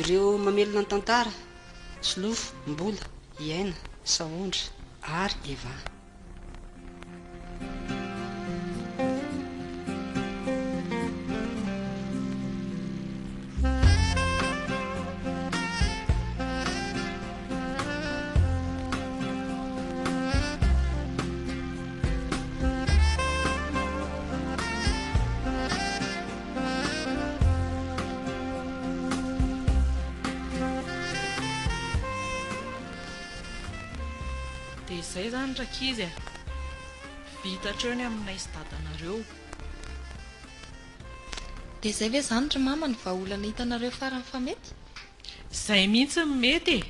Ireo mamelona ny tantara, Solofo, Mbola, Hiaina, Sahondra ary Eva. Dia izay izany rankizy e! Vita hatreo ny aminay sy dadanareo. Dia izay ve izany ry mama ny vahaolana hitanareo farany fa mety? Zay mihitsy no mety e!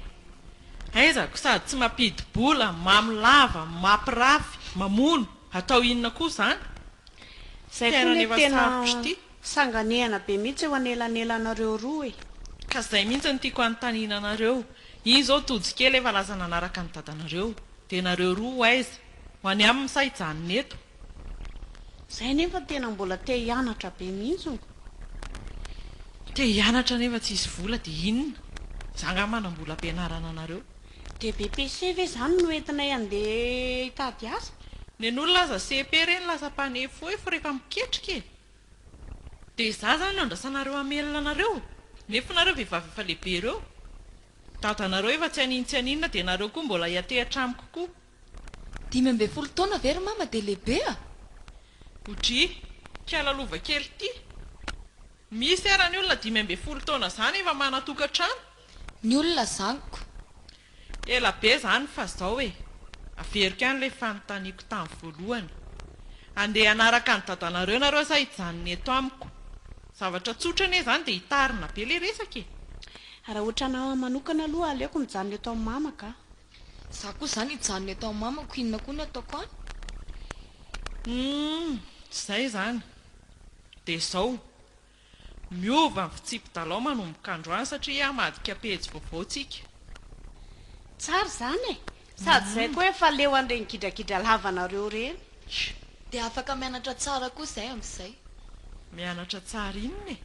Aizako sady tsy mampidi-bola, mamy lava, mapirafy, mamono, atao inona koa zany? Zay koa ne tena sanganehana be mihitsy eo anelanelanareo roa e! Ka zay mihitsy no tiako anontaniana anareo, iny zao tojo kely efa lasa nanaraka an'i dadanareo, de nareo roa ho aiza? Ho any aminy sa hijanona eto? Zay nefa tena mbola te hianatra be mihintsiny. Te hianatra nefa tsisy vola dia inona? Za angaha manam-bola ampianarana anareo. Dia BPC ve izany no entinay andeha hitady asa? Nen'olona aza CEP ireny lasa mpanefoefo rehefa miketrika e! Dia za zany no andrasanareo hamelona anareo? Nefa nareo vehivavy efa lehibe ireo. Dadanareo efa tsy hanintsianinona dia nareo koa mbola hiantehitra amiko koa. Dimy ambin'ny folo taona ve ry mama dia lehibe a? Bodry, kiala lova kely ity. Misy ara ny olona dimy ambin'ny folo taona zany efa manan-tokantrano? Ny olona zaniko. Ela be zany fa zao e, averiko ihany ilay fanontaniako tany voalohany. Andeha hanaraka an'i dadanareo nareo sa hijanona eto amiko? Zavatra tsotra anie zany dia hitarina be ilay resaka e. Raha otranao manokana aloha aleoko mijanona eto amin'ny mamako a. Za koa zany hijanona eto am mamako inona koa ny ataoko an? Humm zay zany dia zao miova ny fitsipi-dalao manomboka androany satria hamadika pejy vaovao tsika. Tsara zany e! Sady zay koa efa leo an'ireny gidragidra lavanareo ireny. Dia afaka mianatra tsara koa zay amzay. Mianatra tsara inona e?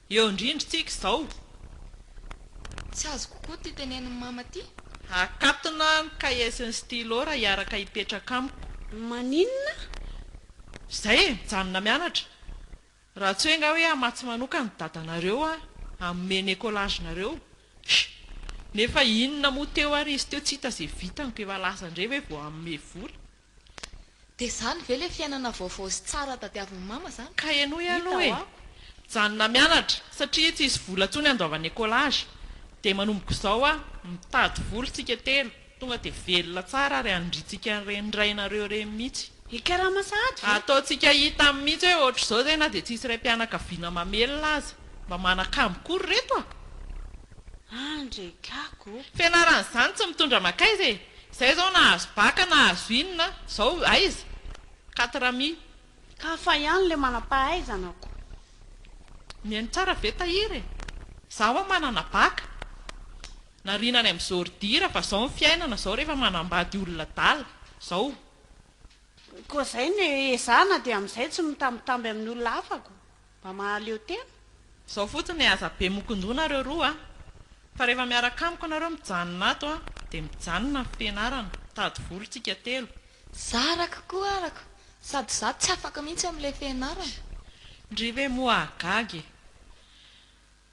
Eo indrindra tsika izao. Tsy azoko koa ty tenenin'i mama ty. Akatona ny kahie sy ny stylo raha hiaraka hipetraka amiko. Maninona? Izay e, mijanona mianatra. Raha tsy hoe nga hoe hamatsy manokana ny dadanareo an, hanome ny écolage-nareo. Hsh! Nefa inona moa teo ary izy teo tsy hita izay vitany koa efa lasa indray ve vao hanome vola. Dia izany ve ilay fiainana vaovao sy tsara tadiavin'i Mama izany? Ka henoy aloha e! Mijanona mianatra satria tsisy vola intsony handoavana écolage dia manomboka izao aho mitady vola tsika telo tonga dia velona tsara ary handrintsika ny renirainareo ireny mitsy. Hikarama sahady ve? Ataontsika hita mitsy hoe ohatr'izao izay na dia tsisy raim-pianakaviana mamelona aza. Mba manakamo koa ry reto a! Andry e! Gaga o! Fianaran'izany tsy mitondra makaiza e! Izay izao nahazo baka nahazo inona izao aiza quatre ami. Ka hafa ihany ilay manam-pahaizana ko. Mihaino tsara ve Tahiry e? Za hoa manana bac. Nariana any am zordira fa zao ny fiainana zao rehefa manambady olona adala. Zao. Koa zay no ezahana dia amizay tsy mitambitamby amin'ny olona hafa ko. Mba mahaleo tena? Zao fotsiny e aza be mokondroa nareo roa a! Fa rehefa miaraka amiko nareo mijanona ato a dia mijanona ny fianarana, mitady vola tsika telo. Za araka koa araka, sady za tsy afaka mihitsy amin'ilay fianarana. Ndry ve moa hahagaga e!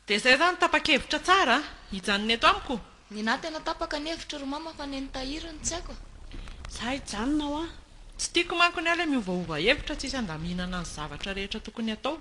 Dia izay zany tapa-kevitra tsara a! Hijanona eto amiko? Ninahy tena tapaka ny hevitro ry mama fa neny tahiry no tsy haiko a! Za hijanona hoa! Tsy tiako manko ny ahy ilay miovaova hevitra tsisy handaminana ny zavatra rehetra tokony atao.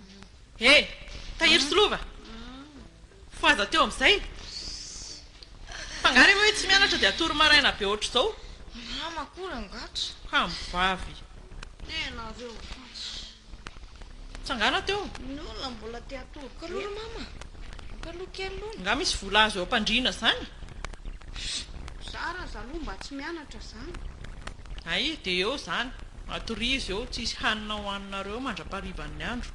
He! Tahiry sy lova! Ho aza teo amin'izay! Fa angaha re hoe tsy mianatra dia hatory maraina be ohatr'izao? Mama koa rangatra! Kamo vavy! Dia ianareo fotsy! Tsangana teo! Ny olona mbola te hatory koa aloha ry mama! Ampaloha kely aloha! Angaha misy vola azo eo am-pandriana izany? Mizara zaloha mba tsy mianatra izany! Hay, dia eo izany, atorizo eo, tsisy hanina ho haninareo mandra-paharivan'ny andro.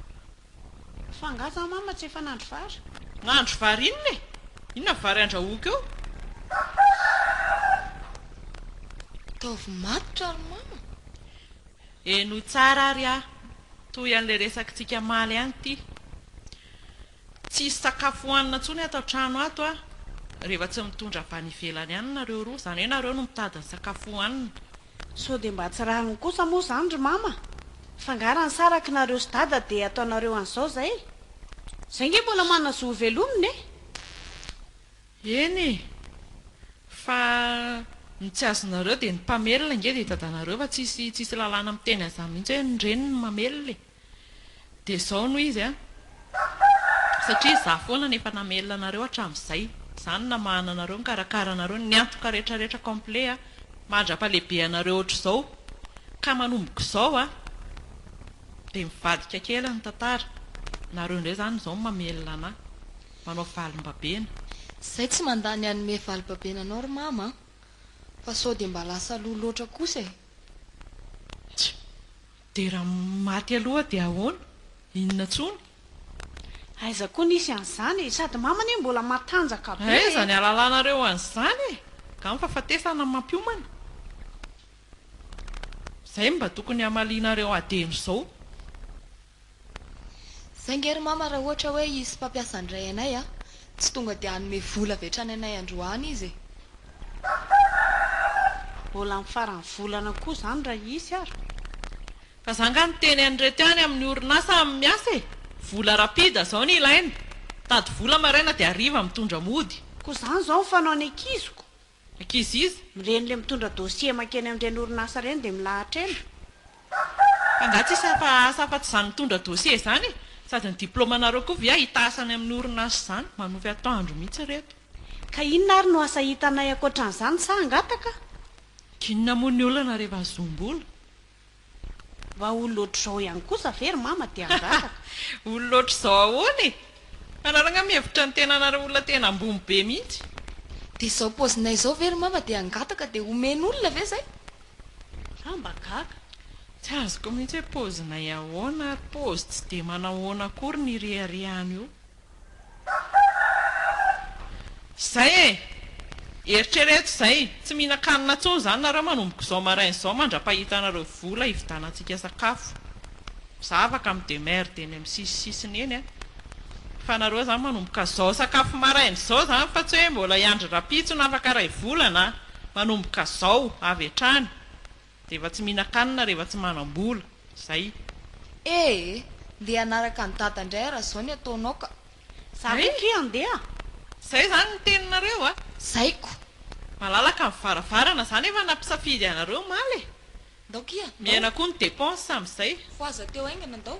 Fa angaha za mama tsy efa nandry vary? Nandry vary inona e? Inona vary andrahoiko eo? Ataovy matotra ry mama! Henoy tsara ary aho, toy an'ilay resakintsika maly any ity. Tsy hisy sakafo hohanina intsony ato an-trano ato a! rehefa tsy mitondra avy any ivelany any nareo roa, izany hoe nareo no mitady ny sakafo hohanina. Sao dia mba tsy rariny kosa moa izany ry mama? Fa angaha raha nisaraky nareo sy dada dia ataonareo an'izao izay? Izay ange mbola manana zo hovelomina e! Eny e! Fa ny tsy azonareo dia ny mpamelona ange dia i dadanareo fa tsy hisy lalàna miteny an'izany mihitsy hoe ny reniny no mamelona e! Dia izao no izy an! Satria izaho foana no efa namelona anareo hatramin'izay. Izaho no namahana anareo, nikarakara anareo, niantoka rehetrarehetra complet an! Mandra-pahalehibe anareo ohatr'izao. Ka manomboka izao an! Dia mivadika kely ny tantara. Nareo indray izany izao no mamelona anah. Manao valim-babena. Izay tsy mandà ny hanome valim-babena anao ry Mama an! Fa sao dia mba lasa lò loatra kosa e! Tsia! Dia raha maty aloha dia ahoana? Inona tsony? Aiza koa nisy an'izany e! Sady mama anie mbola matanjaka be e! Aiza ny alalanareo an'izany e! Nga ny fahafatesana no mampiomana? Izay no mba tokony hamalianareo adino izao. Saingy ry mama raha ohatra hoe hisy mpampiasa handray anay a! Tsy tonga dia hanome vola avy hatrany anay androany izy e! Mbola amin'ny faran'ny volana koa izany raha hisy ary. Ka za nga niteny an'ireto ihany amin'ny orinasa miasa e! Vola rapide zao ny ilaina! Tady vola maraina dia hariva mitondra mody! Koa izany izao ny fanaon'ny ankiziko! Ankizy iza? Ireny le mitondra dossier mankeny amin'ireny orinasa ireny dia milahatra ela. Fa nga tsisy hafa asa afa tsy izany mitondra dossier izany e? Sady ny diploma nareo koa via hitahasa any amin'ny orinasa izany? Manofy atoandro mihitsy reto. Ka inona ary no asa hitanay ankoatran'izany sa hangataka? K'inona moa ny olana rehefa zoom-bola? Mba olona ohatr'izao ihany kosa ve ry mama dia hangataka? Olona ohatr'izao ahoana e! Hanaragna mihevitra ny tenanareo olona tena ambony be mihitsy. Dia izao paozinay izao ve ry mama dia hangataka dia omen'olona ve izay? Za mba gaga. Tsy azoko mihitsy hoe paozinay ahoana ary paozy tsy dia manahoana akory ny ireharehany io. Izay e! Eritrereto izay, tsy mihinan-kanina intsony izany nareo manomboka izao maraina izao mandra-pahitanareo vola hividanantsika sakafo. Zavaka amin'ny demeurd eny amin'ny sisisisiny eny a! Fa nareo izany manomboka izao sakafo maraina izao izany fa tsy hoe mbola hiandry rahampitso na afaka iray volana a! Manomboka izao, avy hatrany. Rehefa tsy mihinan-kanina rehefa tsy manam-bola. Zay. Eh! Ndeha hanaraka an'i Dada indray aho raha izao ny ataonao ka. Za koa ki handeha. Zay zany ny teninareo a! Zay ko! Malalaka ny varavarana za nefa nampisafidy anareo omaly e! Ndao ki a! Miaina koa ny dépenses amin'izay. Ho aza teo haingana ndao.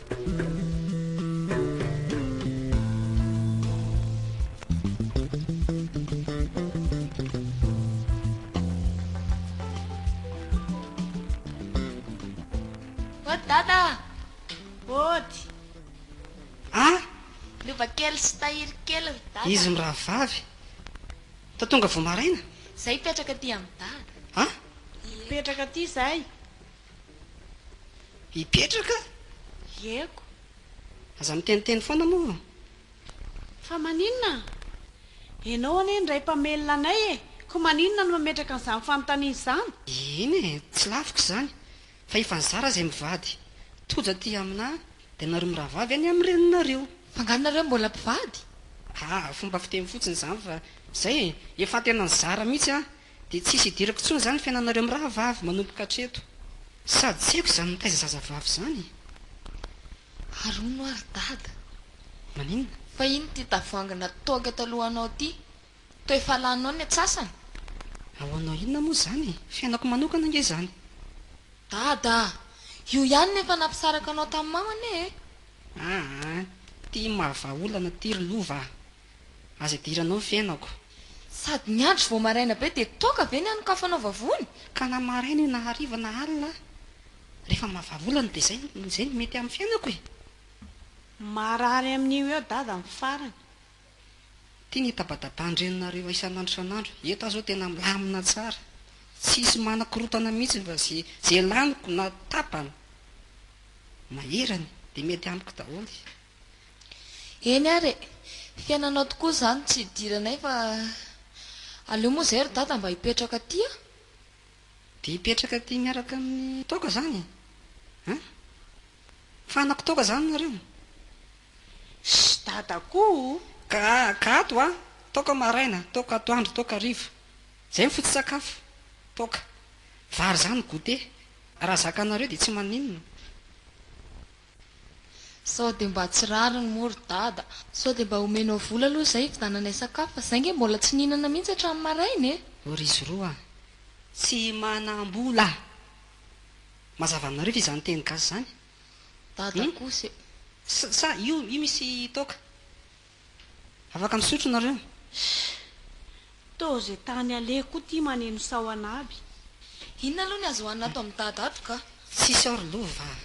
Ody Dada a! Ody! An! Lova kely sy tahiry kely ry Dada. Izy mirahavavy? Toa tonga vao maraina? Zay hipetraka aty amin'i Dada. An! Hipetraka aty zay. Hipetraka? Ieko. Aza miteniteny foana moa. Fa maninona? Ianao anie indray mpamelona anay e! Koa maninona no mametraka an'izany fanontaniana izany? Eny e, tsy laviko izany, fa efa nizara izay mivady. Tojo aty aminà dia nareo mirahavavy any amin'ny reninareo. F'angaha nareo mbola mpivady? Aa, fomba fiteny fotsiny izany fa izay e! Efa tena nizara mihitsy aho. Dia tsisy hidirako tsony zany fiainanareo mirahavavy manomboka atreto. Sady tsy haiko izany mitaiza zazavavy izany e! Ary hono ary dada. Maninona? Fa iny ty tavoangy natoaka taloha anao ty. Toa efa laninao ny atsasany? Ao hanao inona moa izany e! Fiainako manokana ange izany. Dada a! Io ihany no efa nampisaraka anao tamin'ny mamany e! Aa! Ty mahavaha olana ty ry lova a! Aza idiranao ny fiainako. Sady niandry vao maraina be dia toaka ve ny hanokafanao vavony? Ka na maraina io na hariva na alina aho, rehefa mahavavolana dia izay no izay no mety amin'ny fiainako e! Marary amin'io eo dada ny farany. Ity ny itabataban-dreninareo isan'andro isan'andro, eto aho izao tena milamina tsara, tsisy manakorontana mihitsy fa ze ze laniko na tapany maherany dia mety amiko daholo. Eny ary e! Fiainanao tokoa izany tsy idiranay fa aleo moa izay ry dada mba hipetraka aty a! Dia hipetraka aty miaraka amin'ny toaka izany e! An! Fanako toaka izany nareo! Shh! Dada koa o! Ka, ka ato hoa! Toaka maraina, toaka atoandro, toaka hariva. Izay ny foto-tsakafo. Toaka. Vary izany goûter. Raha zakanareo dia tsy maninona. Sao dia mba tsy rariny moa ry dada. Sao dia mba omenao vola aloha izay hividananay sakafo fa izay ange mbola tsy nihinana mihitsy hatramin'ny maraina e! O ry zoro a! Tsy manam-bola a! Mazava aminareo ve izany teny gasy izany? Dada kosa e! Sa io misy toaka? Afaka misotro nareo. Toa ze tany aleko koa ty maneno sahona aby. Inona aloha ny azo hohanina ato amin'i Dada ato ka? Tsisy ao ry lova a!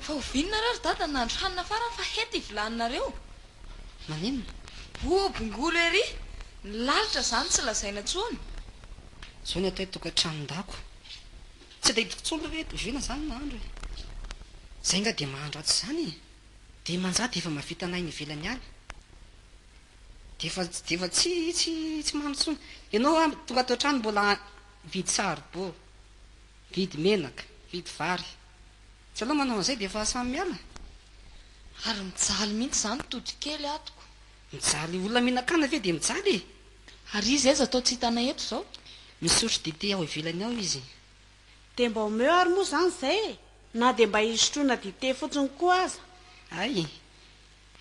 Fa oviana nareo ry Dada no nahandro hanina farany fa hety i vilaninareo? Maninona? Oa bongolo ery! Ny lalitra izany tsy lazaina intsony. Zao ny atao hoe tokantranon-dako. Tsy dia hitako tsony hoe tohizo inona zany nahandro e! Zay nga dia mahandro atsy zany e! Dia manja dia efa mahavita anay ny ivelany any! Dia efa dia efa tsy tsy tsy mahandro tsony! Ianao an tonga ato an-trano mbola mividy saribô, mividy menaka, mividy vary! Tsy ianao manao an'izay dia efa samy miala? Ary mijaly mihitsy zany todikely atoko! Mijaly olona mihinan-kanina ve dia mijaly e! Ary izy aiza toa tsy hitanay eto izao? Misotro dite ao ivelany ao izy. Dia mba omeo ary moa izany izay e! Na dia mba hisotroana dite fotsiny koa aza. Hay!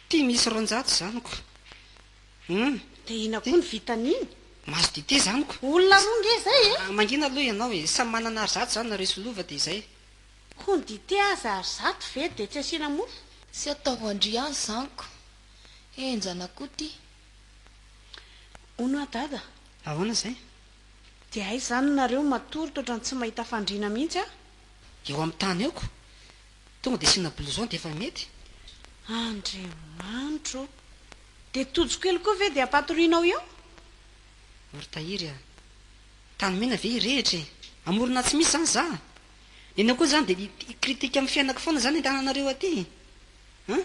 Ity misy roanjato zaniko. Hum! Dia inona koa ny vitan'iny? Mahazo dite zaniko. Olona roa nge izay e! Mangina aloha ianao e! Samy manana ary zato izany nareo sy lova dia izay. Koa ny dite aza ary zato ve dia tsy asiana mofo? Tsy ataovandria any zaniko. Henjana koa ity. Hono aho dada, ahoana izay? Dia aiza izany nareo, matory totrany tsy mahita fandriana mihitsy aho. Eo amin'ny tany eo ko. Tonga dia asiana blouson dia efa mety. Andriamanitro o! Dia tojo kely koa ve dia ampatorianao eo? Ry Tahiry a! Tany mena ve hirehitra e! Amorona tsy misy izany za! Nenao koa izany dia hi-critique amin'ny fiainako foana izany ny tananareo aty e! An?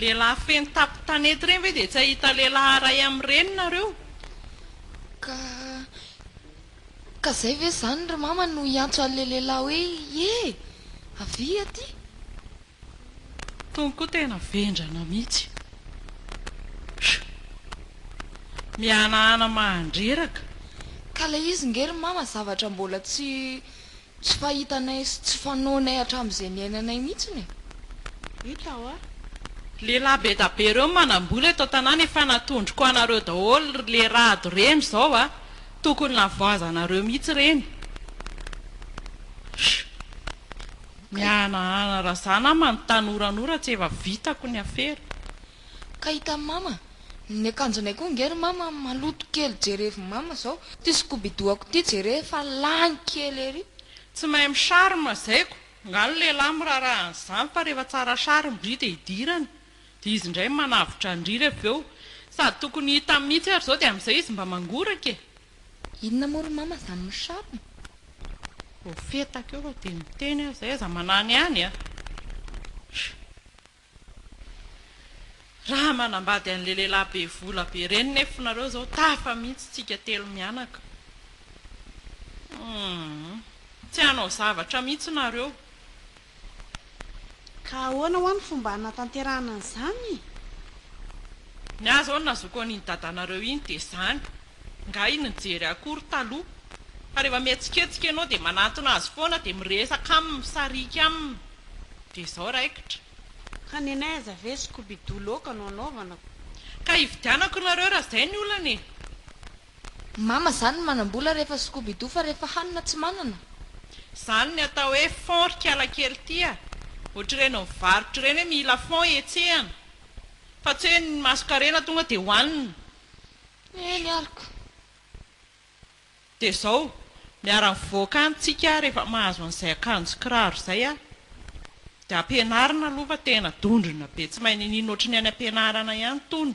Lehilahy feno tapo tanety ireny ve dia tsy hahita lehilahy ray amin'ireny nareo? Ka, ka izay ve izany ry mama no hiantso an'ilay lehilahy hoe ye! Avia aty! Tony koa tena vendrana mihitsy. Shh! Mihanahana mahandreraka. Ka ilay izy nge ry mama zavatra mbola tsy. Tsy fahitanay sy tsy fanaonay hatramin'izay niainanay mihitsiny e! Hita hoa. Le rà bedabe reo manambola eto an-tanàna efa natondroko anareo daholo le rado reny zao a! Tokony navoazanareo mihitsy reny. Sh! Mihanahana razana aho manontany oranora tsy efa vitako ny afera. Ka hitan'i mama, ny akanjonay koa nge ry mama maloto kely jerevo mama zao ty skobidoako ty jere fa lany kely ery. Tsy mahay mi-charme zaiko, angaha ny lehilahy miraharaha an'izany fa rehefa tsara charme ndry dia idirany dia izy indray manavotra an-dry avy eo. Sady tokony hita mihitsy ary izao dia amin'izay izy mba mangoraka e! Inona moa ry mama izany mi-charme? Voafetaka eo fa dia niteny aho izay aza manany any a! Raha manambady anle lehilahy be vola be reny nefo nareo zao tafa mihitsy tsika telo mianaka humm tsy hanao zavatra mihitsy nareo. Ka ahoana hoa ny fomba hanatanterahana an'izany? Ny ahy zao ny nazoako an'iny dadanareo iny dia zany, nga iny nijery akory taloha, fa rehefa mihetsiketsika ianao dia manantona azy foana dia miresaka aminy, misarika aminy. Dia izao raikitra. Ka nenay aza ve scooby-doo loaka no anaovana. Ka ividianako nareo raha izay ny olana e. Mama zany ny manambola rehefa scooby-doo fa rehefa hanina tsy manana. Zany ny atao hoe fond ry kialakely ty a! Ohatr'ireny mivarotra ireny hoe mila fond hihetsehana fa tsy hoe ny masonkarena tonga dia hohanina. Eny arko. Dia izao, miara mivoaka any tsika rehefa mahazo an'izay akanjo kiraro izay a! Dia ampianarina aloha fa tena dondrona be tsy mahay niniana ohatry ny any ampianarana ihany tony.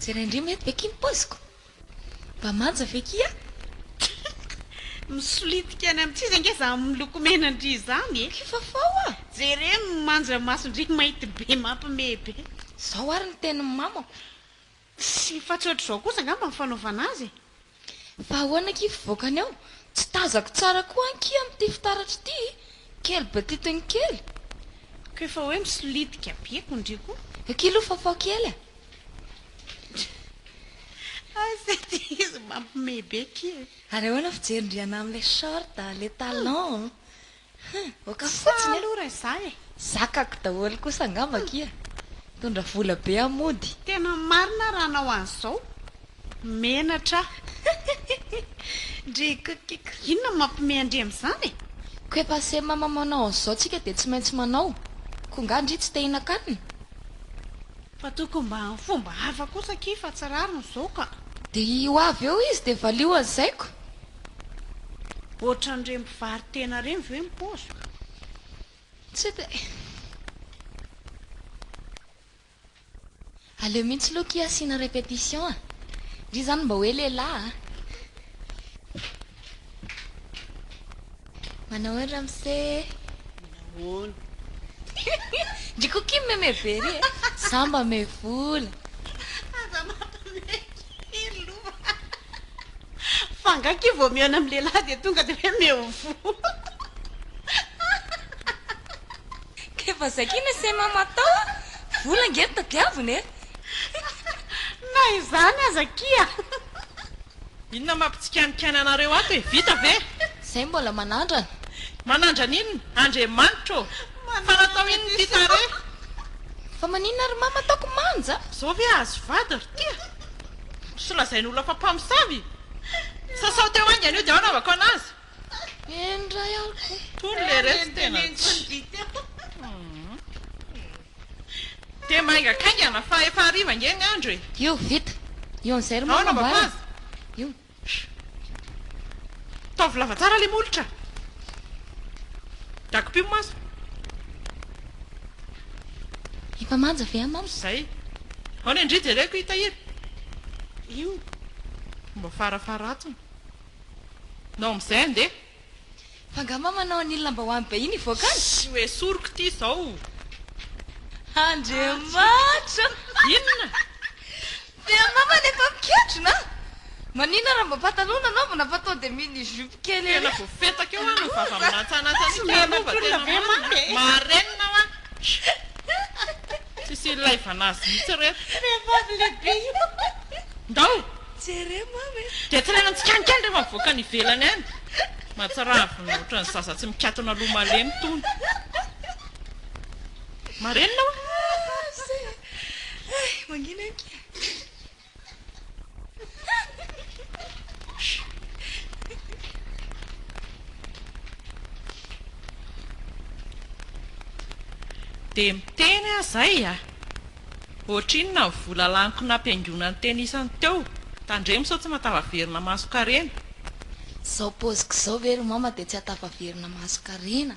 Jerain-dry mety ve ki ny paoziko? Mba manja ve ki an? Misolitika any amin-tsy izy ange izany miloko menan-dry izany e! Ki Fafao a! Jere ny manja mason-dry mainty be mampimehy be. Izao ary ny tenin'ny mamako. Tsy efa tsy ohatr'izao kosa angamba ny fanaovana azy e! Fa ahoana akia fivoakany ao? Tsy tazako tsara koa ankia amin'ity fitaratra ity e! Kely be titiny kely. Ko efa hoe misolitika be ko ndry ko. Akia aloha fafao kely a! Aza ity izy mampime be akia e! Ary ahoana fijerin-dry anà amin'ilay short, ilay talon? Hum, oka fotsiny aloha raha za e! Zakako daholo kosa angamba kia! Mitondra vola be aho mody! Tena marina raha anao an'izao! Menatra aho! Ndry kikikk! Inona no mampime an-dry amin'izany e? Ko efa se mama manao an'izao tsika dia tsy maintsy manao! Ko nga ndry tsy te hihinan-kanina? Fa tokony mba amin'ny fomba hafa kosa akia fa tsy rariny izao ka! Dia io avy eo izy dia valio an'izay ko! Ohatran'ireny mpivaro-tena ireny ve ny paoziko? Tsy dia. Aleo mihitsy Loky asiana répétition a! Ndry izany mba hoe lehilahy a! Manao ahoana ramose e? Manahoana? Ndry Kokim meme be ry e! Za mba me vola! Aza mampame kely loha a! Fa angaha kivy vao mihaona amin'ny lehilahy dia tonga dia hoe me vola? Dia efa zakina sy hay mamaha tao a! Vola ange no tadiavina e! Na izany aza akia. Inona mampitsikanikaina anareo ato e? Vita ve? Zay mbola manandrana. Manandrana inona? Andriamanitra ô! Fa natao inona ity tarehy? Fa maninona ry mama ataoko manja? Zao ve ahazo vady ry tia? Sy lazain' olona fa mpamosavy? Sasao teo haingana io dia ao no havako anazy. Eny ray aho. Tony le resto tena tsy. Dia maingakaingana fa efa hariva ange ny andro e! Io, vita. Io an'izay ry mama Aona mba ambara. Io. Taovy lava tsara ilay molotra. Dago-py ny maso. Efa manja ve an mama? Izay. Aona indry jereko i Tahiry. Io. Mba farafaharatsiny. Nao amin'izay andeha. Fa nga ma manao an'ily lambahoany be iny hivoaka any? Tsy ho esoriko ity izao. Andriamanitra! Inona? Dia mama ny efa mikentrona an! Maninona raha mba pataloha no anaovana fa tonga dia mini jupe kely ery an! Tena voafetaka eo an, ny vava milantsanantsana iny ka lova tena marina an! Marenina hoa! Tsisy ilaivana azy mihitsy ireto. Vehivavy lehibe io. Ndao! Jereo mama e! Dia tsaraina tsikanika any rehefa mivoaka any ivelany any. Mahatsiravina ohatran'ny zaza tsy mikatona loha malemy itony. Marenina oa! Mizay e! Hay! Mangina ankia! Dia miteny aho izay a! Ohatrinona ny vola laniko nampihaingoana ny teny isany teo? Tandremo sao tsy mahatafaverina mason-karena. Izao paoziko izao ve ry mama dia tsy hahatafaverina mason-karena?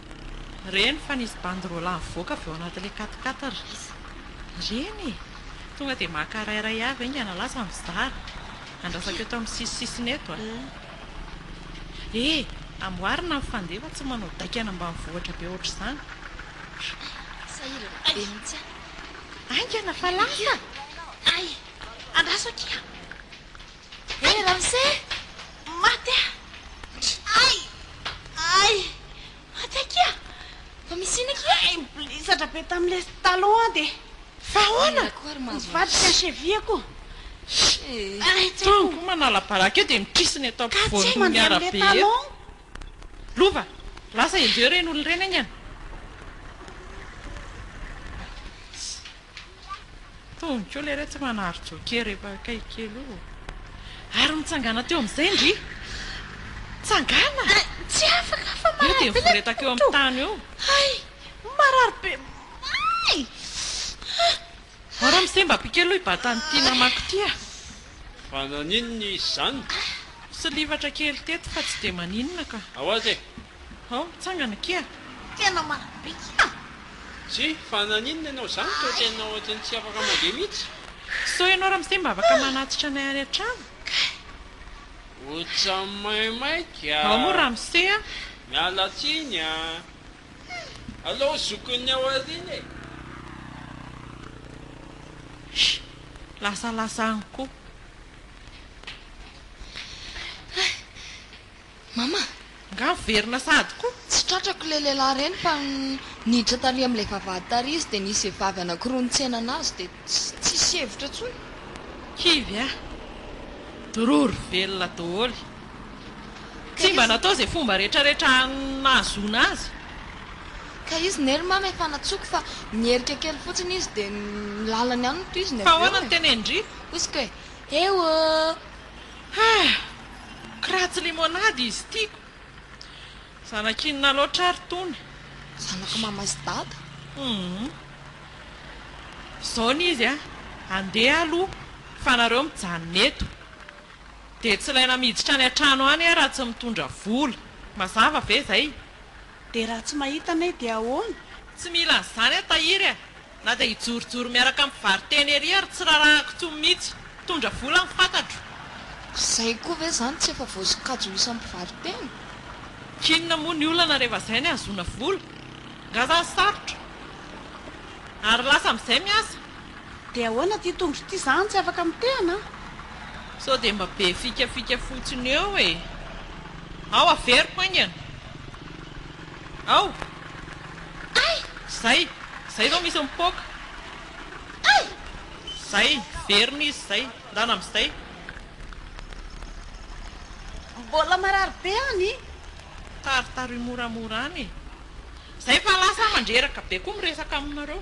Reny fa nisy banderole nivoaka avy ao anatin'ilay quat-quatre ry izy. Ireny e! Tonga dia maka iray iray avy haingana lasa mizara. Andrasako eto amin'ny sisisisiny eto a. E! Amboarina ny fandefa tsy manao daika any ambanivohitra be ohatr'izany. Sahirana be mihitsy aho. Haingana fa lasa! Hay! Andraso akia! He ramose! Maty aho! Ay! Ay! Maty akia! Mba misy inona akia? Ay! Mpilisatra be tamin'ny lesy taloha aho dia. Fa ahoana? Nivadika ny cheville ko. Ay! Tsy haiko. Koa manala baraka eo dia mitrisina eto ampovoan'ny arabe eto. Lova! Lasa enjeheo ireny olona ireny aingana. Tony koa lery tsy manary joker rehefa akaiky kely io. Ary mitsangana teo amin'izay ndry. Tsangana! Ah, tsy afaka fa marary be. Eo dia nivoretaka eo amin'ny tany eo. Hay, marary be. Hay! Ao Ramose-mba ampio kely aloha hibata an'ity namako ity ah. Fa naninona izy izany? Silifatra kely teto fa tsy dia maninona ka. Ao aza e. Hao, mitsangana kia! Tena marina be kia! Zzy, fa naninona ianao izany toa tena ohatry ny tsy afaka mandeha mihitsy? Sao ianao ramose mba afaka manatitra anay any an-trano? Kay! Ohatran'ny maimaika a! Hao moa ramose a! Miala tsiny a! Alao zokin'ny ao aoriana e! Hii! Lasa lasa any koa! Mama! Nga miverina sahady ko! Tsy tratrako ilay lehilahy ireny fa niditra tary amin'ilay vavahady tary izy dia nisy vehivavy anankiroa nitsena anazy dia tsisy hevitra intsony. Kivy a! Dororo velona daholo. Tsy mba natao izay fomba rehetrarehetra nahazoana azy. Ka izy ne ry Mama efa natsoiko fa niherika kely fotsiny izy dia ny lalany ihany no tohiziny avy eo e! Fa ahoana no tenenin-dry? Hoy isika hoe, Heu! Hah! Kiratsy limonade izy tiako. Zanak'inona loatra ary tony? Zanak'i mama sy dada. Humm. Izao ny izy a, andeha aloha fa nareo mijanona eto. Dia tsy ilaina miditra any an-trano any aho raha tsy mitondra vola. Mazava ve izay? Dia raha tsy mahita anay dia ahoana? Tsy mila an'izany aho tahiry a! Na dia hijorojoro miaraka amin'ny mpivaro-tena ery ary tsy rarahako intsony mihitsy. Mpitondra vola ny fantatro. Izay koa ve izany tsy efa voasokajy ho isan'ny mpivaro-tena? K'inona moa ny olana rehefa izay ny ahazoana vola? Nga zany sarotra? Ary lasa amin'izay miasa? Dia ahoana ity tondro ity izany tsy afaka mitehana an? Sao dia mba be fikafika fotsiny eo e? Ao averiko haingana. Ao! Ay! Zay! Zay zao misy mipoaka! Ay! Zay! Verina izy zay! Ndana amzay! Mbola marary be any! Taritaroy moramora any e! Zay fa lasa mandreraka be koa miresaka aminareo!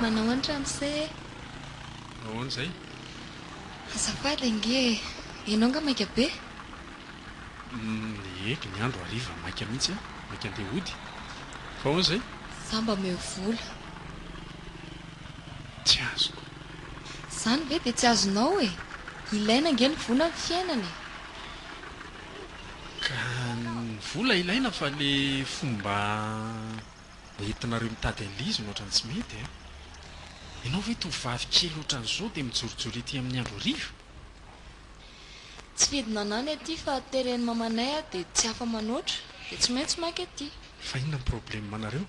Manao an ramose e! Ahoana izay? Azafady ange e! Ianao nga maika be? Nihegy ny andro hariva maika mihitsy an! Maika handeha hody. Fa ahoana izay? Za mba omeo vola. Tsy azoko. Izany ve dia tsy azonao e! Ilaina ange ny vola amin'ny fiainana e! Ka ny vola ilaina fa ilay fomba Mba entinareo mitady an'i Liz no otrany tsy mety a! Ianao ve tovovavy kely otran'izao dia mijorojoro ety amin'ny andro hariva? Tsy fidinana any aty fa teren'i mamanay aho dia tsy afa manoatra dia tsy maintsy maika aty. Fa inona ny probleme nareo?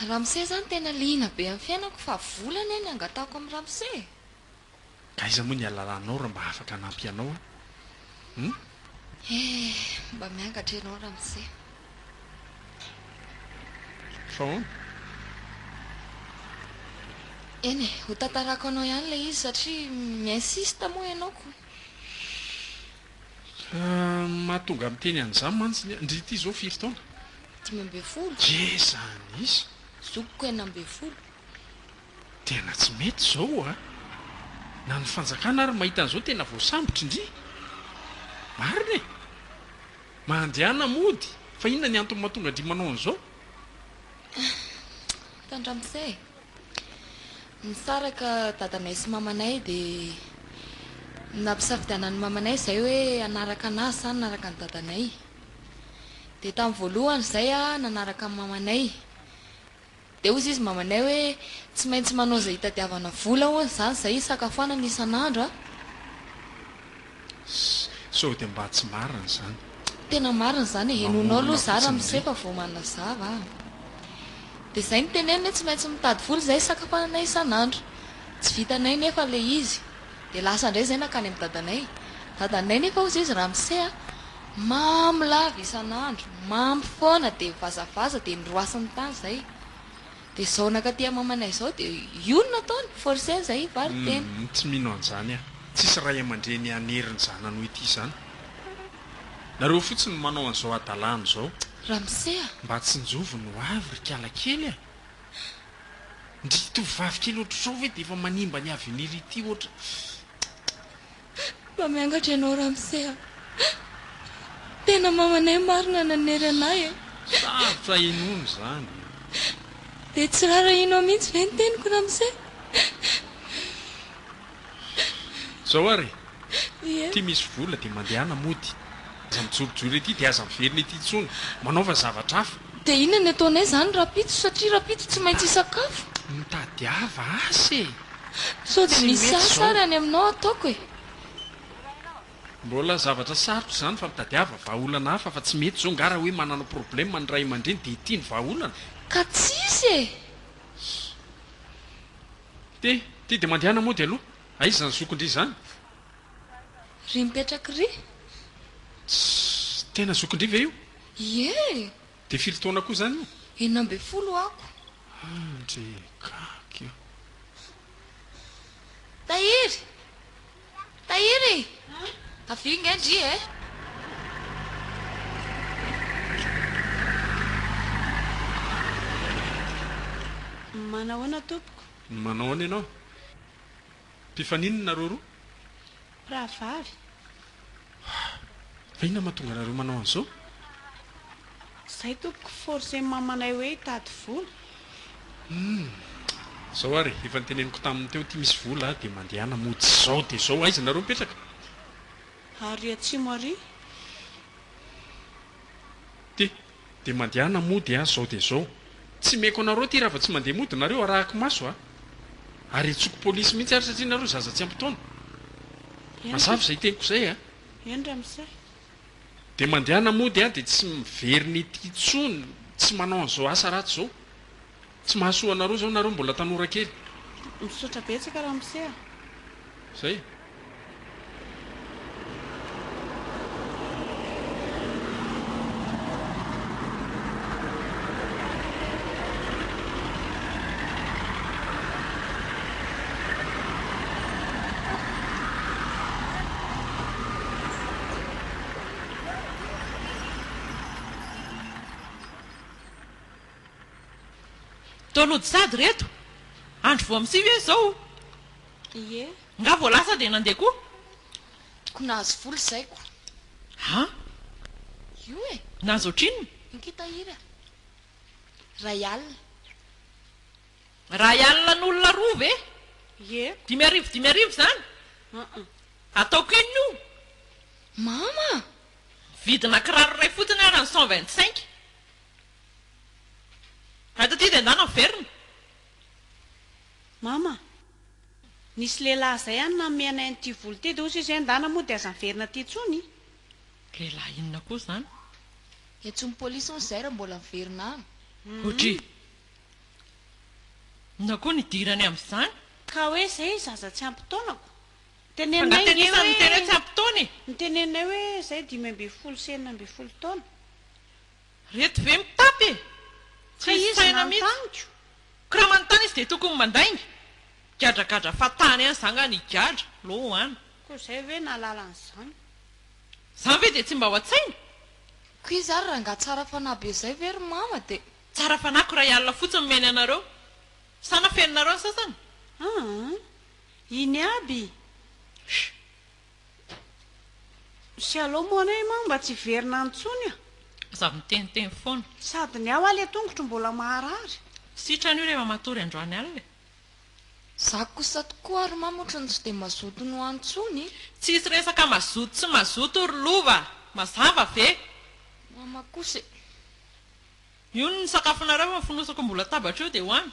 Ramose zany tena liana be amin'ny fiainako fa vola anie ny angatahako amin'i Ramose e! Ka aiza moa ny alalanao raha mba afaka hanampy anao aho hum? Eh, mba miangatra ianao ramose. Fa ahoana? Eny e, ho tantarako anao ihany ilay izy satria mi-insiste moa ianao ko. Ah, ny mahatonga ahy miteny an'izany mantsy ny, ndry ity izao firy taona? Dimy ambin'ny folo. Ye zany izy! Zokiko enina ambin'ny folo. Tena tsy mety izao a! Na ny fanjakana ary mahita an'izao tena voasambotry ndry! Marina e! Mandehana mody fa inona ny antony mahatonga an-dry manao an'izao? Hitan'ny ramose e! Nisaraka dadanay sy mamanay dia nampisafidianan'ny mamanay izay hoe hanaraka anazy sa hanaraka an'i dadanay. Dia tamin'ny voalohany izay aho nanaraka an'i mamanay. Dia hozy izy mamanay hoe, tsy maintsy manao izay hitadiavana vola hono izany izay hisakafoanana isan'andro a! Sao dia mba tsy marina izany. Tena marina izany e, henoinao aloha za ramose fa vao manazava an! Dia izay no teneniny hoe tsy maintsy mitady vola izay hisakafoanana isan'andro. Tsy vitanay nefa ilay izy. Dia lasa indray izay nankany amin'i dadanay. Dadanay nefa hozy izy Ramse a, mamo lava isan'andro, mamo foana dia mivazavaza dia noroasiny tany izay. Dia izao nankaty amamanay izao dia io no nataony, forcer izay hivarotena. Humm tsy mino an'izany aho. Tsisy ray aman-dreny hanery ny zanany ho ity izany. Nareo fotsiny no manao an'izao hadalana izao. Ramse a! Mba tsinjovy ny ho avy ry kialakely a! Ndry tovovavy kely ohatr'izao ve dia efa manimba ny avenir ity ohatra Mba miangatra ianao Ramose a! Tena mamanay marina nanery anay e! Sarotra inoana izany e! Dia tsy rarahianao mihitsy ve ny teniko Ramose? Zao ary e! Ity misy vola dia mandehana mody. Aza mijorojoro ety dia aza miverina ety intsony. Manaova zavatra hafa. Dia inona ny ataonay izany rahampitso satria rahampitso tsy maintsy hisakafo? Mitadiava asa e! Sao dia misy asa ary any aminao hataoko e! Mbola zavatra sarotra izany fa mitadiava vahaolana hafa fa tsy mety izao nga raha hoe manana problema ny ray aman-dreny dia ity ny vahaolana? Ka tsisy e! Ty, ty dia mandehana mody aloha. Aiza izany zokindry izany? Ry mipetraky ry. Tss! Tena zokindry ve io? Ie! Dia firy taona koa izany io? Enina ambin'ny folo ako. Andry! Gaga! Tahiry! Tahiry e! Avia ingahy ndry e! Manao ahoana tompoko? Manao ahoana ianao? Mpifaninona nareo roa? Mpirahavavy. Ah! Fa inona mahatonga anareo manao an'izao? Izay tompoko, forcen'ny mamanay hoe hitady vola. Humm! Izao ary, efa noteneniko taminy teo ity misy vola aho dia mandehana mody izao dia izao, aiza nareo mipetraka? Ary atsimo ary? Ty! Dia mandehana mody a zao dia zao. Tsy meko anareo ty raha vao tsy mandeha mody nareo arahako maso a! Ary hentsoiko polisy mihitsy ary satria nareo zaza tsy ampy taona. Mazava izay teniko izay a! Eny ramose. Dia mandehana mody a dia tsy miverina ety intsony, tsy manao an'izao asa ratsy izao. Tsy mahasoa anareo zao nareo mbola tanora kely. Misaotra betsaka ramose a. Zay. Download sady reto. Andro vao misiy ve izao o? Ie. Nga vao lasa dia nandeha koa? Toko nahazo vola izay ko. Ha? Io e. Nahazo ohatrinona? Inty tahiry a. Ray alina. Ray alina ny olona roa ve? Ie. Dimy arivo dimy arivo izany? Aa. Ataoko inona io? Mama! Vidina kiraro iray fotsiny ara ny cent vingt cinq. Ay taty dia andeha naverina. Mama, nisy lehilahy izay any nanome anay an'ity vola ity dia hozy izy hoe endana moa dia aza miverina aty intsony. Lehilahy inona koa izany? Entsoin'ny polisy hono izay raha mbola miverina any. Hoatry inona koa ny idirany amin'izany? Ka hoe izay izy aza tsy ampy taonako. Fa nga tena isan'ny miteny hoe tsy ampy taona e! Noteneninay hoe izay dimy ambin'ny folo sy enina ambin'ny folo taona. Reto ve mitapy e! Tsy hisy saina mihitsy. Ko raha manontany izy dia tokony mandainga? Gadragadra fatahana ihany za nga ny gadra lo an! Ko zay ve nahalala an'izany? Zany ve dia tsy mba ao an-tsaina? Ko iza ry rangaha tsara fanahy be zay ve ry mama dia. Tsara fanahy ko iray alina fotsiny nomeny anareo. Sa nafeninareo ny sasany? Aa! Iny aby! Sh! Shalom ho anay Imam mba tsy hiverina any tsony a. Aza miteniteny foana. Sady ny aho aly atongotro mbola maharary. Sitrany io rehefa matory androany alina e. Za kosa tokoa ary Imam otrany tsy dia mazoto no any tsony. Tsisy resaka mazoto tsy mazoto ry lova, mazava ve? Mama kosa e. Io ny sakafonareo fa ny fonosako ambony latabatra io dia ho any.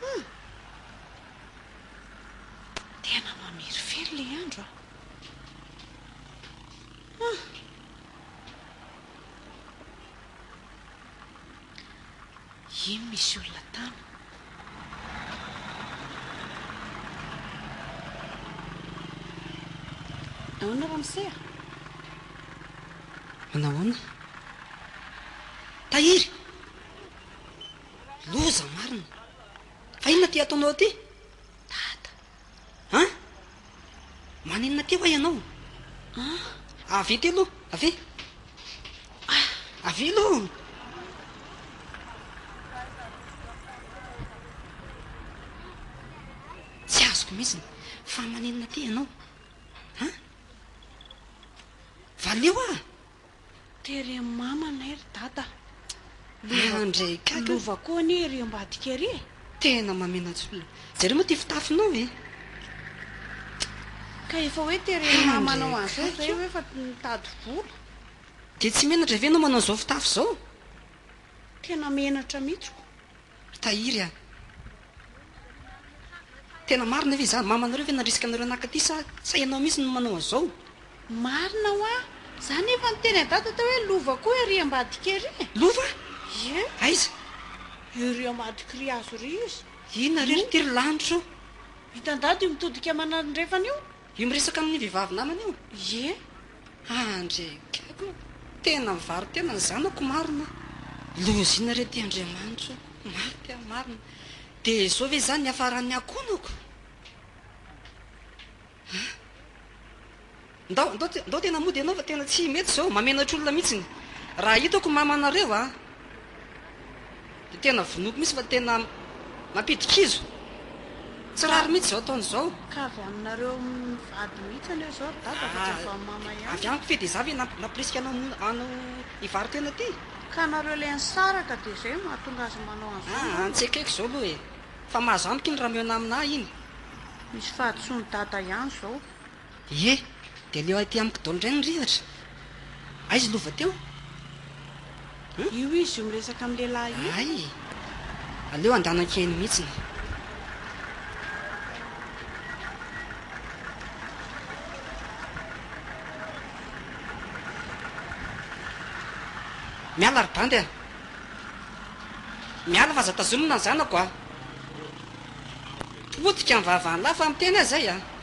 Hum! Tena mamirifiry ilay andro a! Hum! Iny misy olona tany. Ahoana ramose a? Manahoana? Tahiry! Loza marina. Fa inona ity ataonao ity? Dada. An? Maninona ity hoa ianao? An? Avia ity aloha. Avia. Ah, avia aloha. Tsy azoko mihitsy. Fa maninona ity ianao? An? Valio ah. Tery amin'ny mamanay ry dada. Lova, Andray kaka. lova koa anie ery ambadika ery e. Tena mamenatsolona. Jereo moa ty fitafinao e. Ka efa hoe tery amin'ny mamanao an'izao izay hoe efa mitady vola. Dia tsy menatra ve ianao manao izao fitafy izao? Tena menatra mihitsy ko. Ry tahiry a! Tena marina ve izany? Mama anareo ve nandrisika anareo naka aty sa sa ianao mihitsy no manao an'izao? Marina hoa! Za nefa niteny à dada tao hoe lova koa ery ambadika ery e! Lova? Ie! Aiza? Ery ambadika ry azo ry izy! Inona re ry tiry lanitra o! Hitan-dada io mitodika manandrefana io? Io miresaka amin'ny vehivavy namany io? Ie. Aa ndry gaga ô! Tena mivaro tena ny zanako marina a! Loziana re ty Andriamanitra ô! Maty aho marina! Dia izao ve izany niafaran'ny hakonako? Aa! Ndao, ndao, ndao tena mody ianao fa tena tsy mety izao, mamenatra olona mihitsy ny raha hitako mamanareo a! Dia tena vonoiko mihitsy fa tena mampidi-kizo. Tsy rariny mihitsy izao ataony izao. Ka avy aminareo mivady mihitsy anie izao ry dada fa tsy avy amin'i mama ihany. Avy amiko ve dia izaho ve nampirisika anao hanao hivaro tena ity? Ka nareo ilay nisaraka dia izay no mahatonga azy manao an'izao angamba? Aa tsy ekeko izao aloha e! Fa mahazo amiko iny raha mihaona aminà iny. Misy fahadisoan'i dada ihany izao. Ie, dia aleo aty amiko daholo indray ny rivatra. Aizy lova teo? Hum? Io izy io miresaka amin'ny lehilahy io. Hay! Aleo handanaka eny mihitsy ny. Miala ry bandy a! Miala fa aza tazomina ny zanako a! Potika ny vavan'lah fa miteny aza izay a!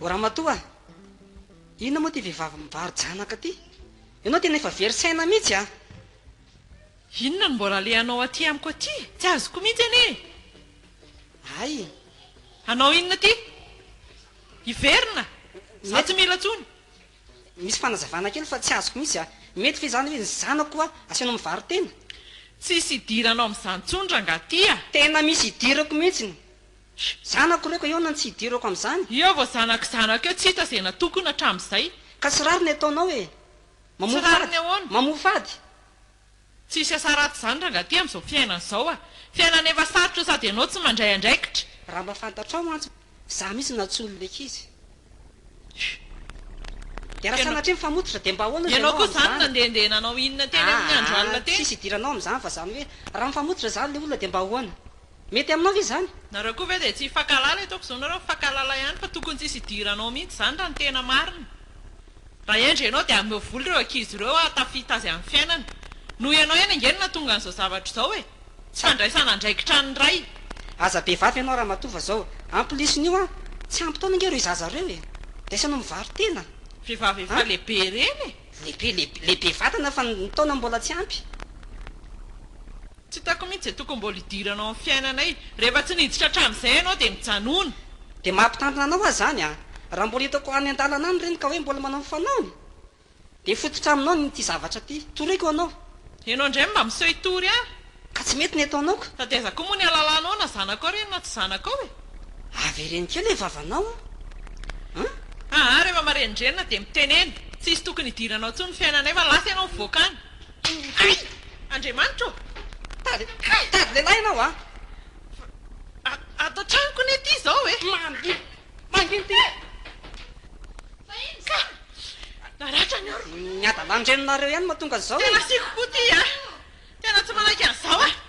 O ramatoa a! Inona moa ity vehivavy mivaro-janaka ity? Ianao tena efa very saina mihitsy a! Inona no mbola alehanao aty amiko aty? Tsy azoko mihitsy anie e! Hay! Hanao inona aty? Hiverina! Za tsy mila tsony! Misy fanazavana kely fa tsy azoko mihitsy a! Mety ve izany hoe ny zanako koa asehonao mivaro tena? Tsisy idiranao amin'izany tsony rangah ty a! Tena misy idirako mihitsiny! Zanako ireo ka hiaona ny tsy idirako amin'izany? Eo vao zanak'i zanako eo tsy hita izay natokona hatramin'izay! Ka tsy rariny ataonao e! Mamoa fady! Mamoa fady! Tsisy asa ratsy zany rangah ty amzao fiainana zao a! Fiainana efa sarotra sady ianao tsy mandray andraikitra. Raha mba fantatrao mantsy za mihitsy nantsoiny le kizy. De raha sanatria mifamototra de mba ahoana hozy ianao amizany. Ianao koa zany nandehandeha nanao inona teny amin'ny andro alina teny. Tsisy idiranao amizany fa zany hoe raha mifamototra zany le olona de mba ahoana. Mety aminao ve izany? Nareo koa ve dia tsy hifankahalala Etoako izao nareo mifankahalala ihany fa tokony tsy hisy hidiranao mihitsy izany raha ny tena marina Raha hendry ianao dia ameo vola ireo ankizy ireo ary tafita azy amin'ny fiainany Noho ianao ihany ange no nahatonga an'izao zavatra izao e Tsy fandraisana andraikitra an'ny ray Aza be vava ianao ramatoa fa izao En plus n'io an, tsy ampy taona ange ireo zaza ireo e Dia samy mivaro tena Vehivavy efa lehibe ireny e! Lehibe, lehibe vatana fa ny taona mbola tsy ampy. Tsy hitako mihitsy izay tokony mbola hidiranao amin'ny fiainanay. Rehefa tsy niditra hatramin'izay ianao dia mijanona. Dia maha-mpitandrina anao aza izany an! Raha mbola hitako any an-dalana any ireny ka hoe mbola manao ny fanaony dia hifototra aminao ny ity zavatra ity. Toriko anao. Ianao indray mba miseho hitory ahy. Ka tsy mety ny ataonao ka! Sady aiza koa moa ny halalanao na zanakao ireny na tsy zanakao e! Avereno kely e vavanao an! Aa rehefa marenindrenina dia mitenena. Tsy hisy tokony hidiranao intsony ny fiainanay fa lasa ianao mivoaka any. Hay! Andriamanitra ô! Tady, hay tady lehilahy ianao a! Fa a, ato an-tranoko anie ity izao e! Mangina, mangina ity! Fa inona izany? Naratra ny oroko! Ny hadalàn'ny reninareo ihany no mahatonga an'izao e! Tena asiako koa ity a! Tena tsy manaiky an'izao aho!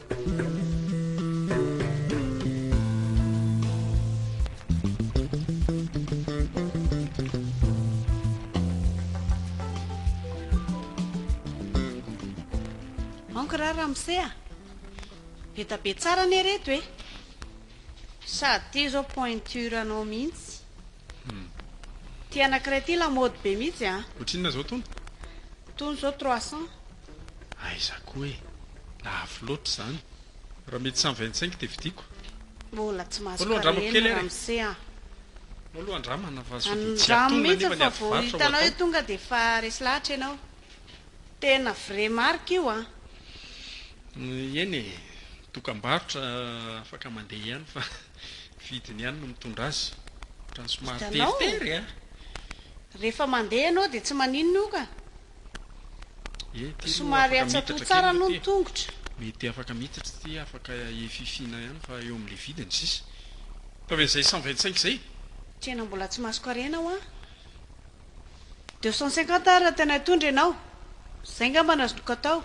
Ankr ra ramose a! Be da be tsara anie reto e! Sady tia zao pointure anao mihitsy. Ty anakiray ty lamaody be mihitsy a! Ohatrinona zao tony? Tony zao trois cents. Aiza koa e! Lafo loatra izany. Raha mety samy vingt-cinq dia vidiako. Mbola tsy mahazo kare ny ramose an! Maloha andramo manavazo dia tsy antonona anefa ny ady varotra ho atao. Tonga dia efa resy lahatra ianao. Tena vrai marque io an! Eny e! Dokam-barotra afaka mandeha ihany fa ny vidiny ihany no mitondra azy. Ohatran'ny somary teritery a! Rehefa mandeha ianao dia tsy maninona io ka! Somary atsatoha tsara aloha ny tongotra. Mety afaka miditra ity afaka hififiana ihany fa eo amin'ilay vidiny sisa. Ataovy an'izay cent vingt cinq izay. Tena mbola tsy masoko harena hoa. Deux cent cinquante ary raha tena hitondra ianao. Izay ngamba no azoko atao.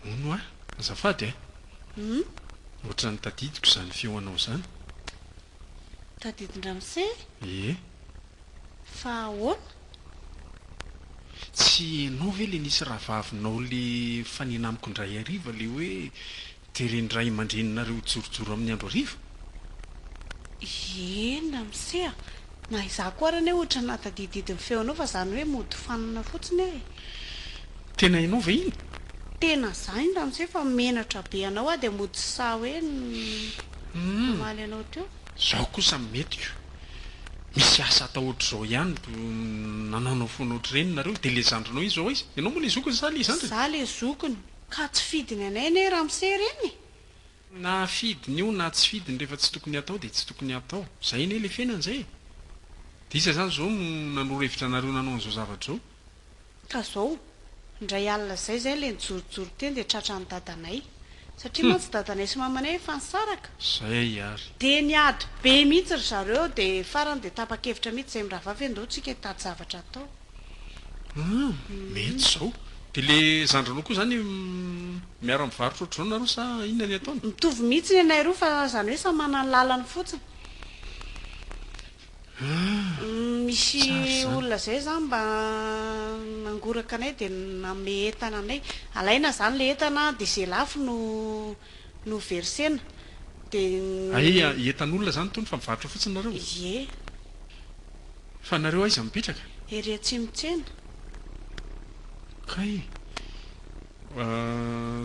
Hono hoa, azafady a. Hum. Ohatran'ny tadidiko izany feonao izany. Tadidin-dramose? Ie. Fa ahoana? Tsy enao ve le nisy rahavavinao le nifanena amiko indray hariva le hoe de reny ray amandreninareo jorojoro amin'ny andro hariva? Iee namse a! Na izaho koa ary anie ohatra natadididy ny feonao fa zany hoe mody fanina fotsiny e! Tena enao ve iny? Tena za iny ramose fa menatra be anao aho de mody sahy hoe namaly anao teo. Zao kosa metiko. misy asa atao ohatr'izao ihany ko nanaonao foana ohatr'ireny nareo dia ilay zandrinao iny zao aiza? Ianao moa ilay zokiny sa ilay zandriny? Za le zokiny. Ka tsy fidiny anay anie ramose ireny e! Na fidiny io na tsy fidiny rehefa tsy tokony atao dia tsy tokony atao. Zay anie le fiainana zay e! Dia iza zany zao no nanoro hevitra anareo nanao an'izao zavatra izao? ka zao indray alina zay zay le nijorojoro teny de tratran'ny dadanay satria mantsy dadanay sy mamanay efa nisaraka Zay ary. de niady be mihitsy ry zareo de farany de tapa-kevitra mihitsy zay miravavy andao tsika hitady zavatra atao Hum mety zao. De le zandrinao koa zany miara mivarotra ohatr'izao nareo sa inona ny ataony? Mitovy mihitsy ny anay roa fa zany hoe samy manana ny lalany fotsiny. Misy olona zay zany mba nangoraka anay dia nanome entana anay, alaina zany le entana dia ze lafo no no versena dia. Aia entan'olona zany tony fa mivarotra fotsiny nareo? Ie. Fa nareo aiza mipetraka? Ery atsimo tsena. Kay,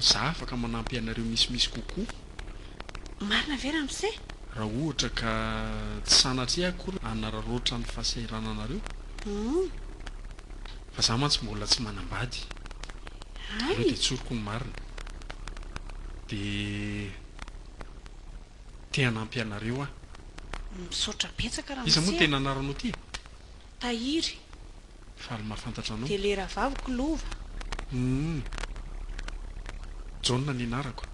za afaka manampy anareo misimisy kokoa. Marina ve ramose? Raha ohatra ka tsy sanatria akory hanararaotra ny fahasahirananareo fa za mantsy mbola tsy manambady aleo dia tsoriko ny marina dia te hanampy anareo aho. Misaotra betsaka ramose a. Iza moa tena anaranao ty e? Tahiry. Faly mahafantatra anao. Tele Rahavaviko lova. Humm. Jaona ny anarako.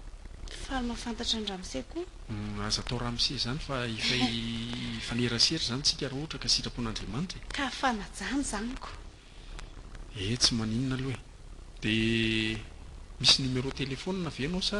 Faly mahafantatra an'i Ramose koa. Humm aza atao Ramose izany fa efa hifanerasera izany tsika raha ohatra ka sitrapon'Andriamanitra e. Ka fanajany zany ko. Ee tsy maninona aloha e. Dia misy numéro téléphone ve ianao sa.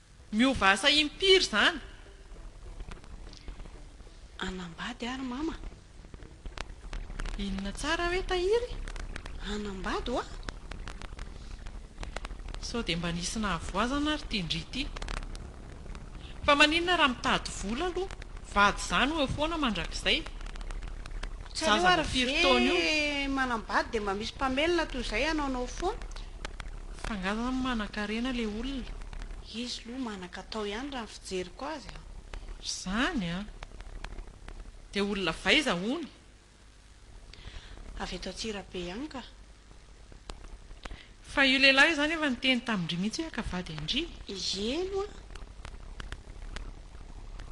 Miova asa impiry zany? Hanambady aho ry mama. Inona tsara hoe tahiry? Hanambady hoa. Sao dia mba nisy nahavoazana ry ty ndry ty. Fa maninona raha mitady vola aloha? Vady izany ho eo foana mandrakizay. Zaza vao firy taona io? Tsy aleo ary ve manambady dia mba misy mpamelona toy izay hanaonao foana? F'angaha zany manankarena le olona? Izy loha manankatao ihany raha ny fijeriko azy a! Ry zany a! Dia olona avy aiza hono? Avy eto Antsirabe ihany ka! Fa io lehilahy io zany efa niteny tamindry mihitsy hoe haka vady an-dry? Iiee no a!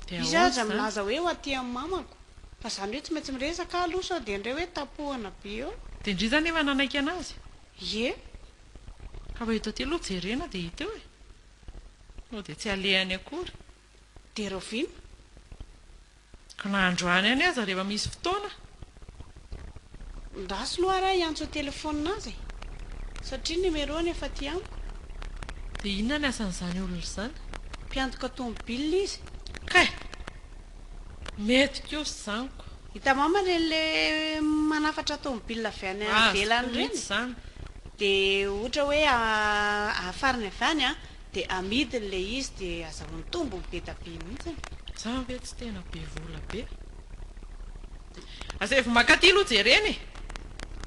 Dia Izy aza milaza hoe ho aty amin'ny mamako! Fa zany hoe tsy maintsy miresaka aho aloha sao dia indray hoe tapohana be eo! Dia ndry zany efa nanaiky anazy? Ie, ka raha eto aty aloha jerena dia hita eo e! Moa dia tsy alehany akory. Dia rahoviana? Ka na androany any aza rehefa misy fotoana. Ndasy loha ra hiantso an-telefaonina azy e! Satria numéro-ny efa aty amiko. Dia inona ny asan'izany olona izany? Mpiantoka tomobilina izy. Kay! Mety kosa izany koa. Hitamama ireny le manafatra tomobile avy any ivelany ireny de ohatra hoe afariny avy any an de amidiny le izy de azahoany tombony be da be mihitsiny. Za ve tsy tena be vola be? Asevo makaty aloha jerena e!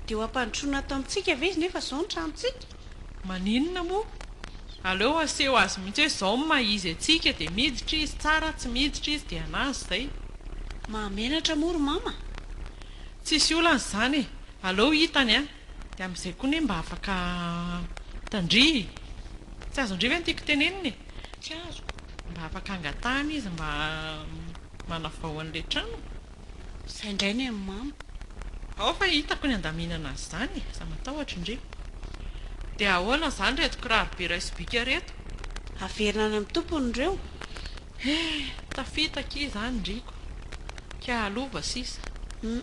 Dia ho ampandrosoana ato amintsika ve izy nefa izao ny tranontsika? Maninona moa? Aleo aseho azy mihitsy hoe izao ny maha izy antsika, dia miditra izy tsara, tsy miditra izy dia an'azy izay. Mahamenatra moa ry mama? Tsisy olana izany e! Aleo hitany an! Dia amin'izay koa anie mba afaka tandrify. Tsy azo handrify ny tiako tenenina e! Tsy azo. Mba afaka angatahana izy mba manavao an'ilay trano. Izay indray ny an'i Mama. Ao fa hitako ny andaminana an'izany e! Za matahotra ndry! Dia ahoana izany reto kiraro be iray sobika reto? Averina any amin'ny tompony ireo. He! Tafita akia izany ndry ko! Kay halova sisa. Hum.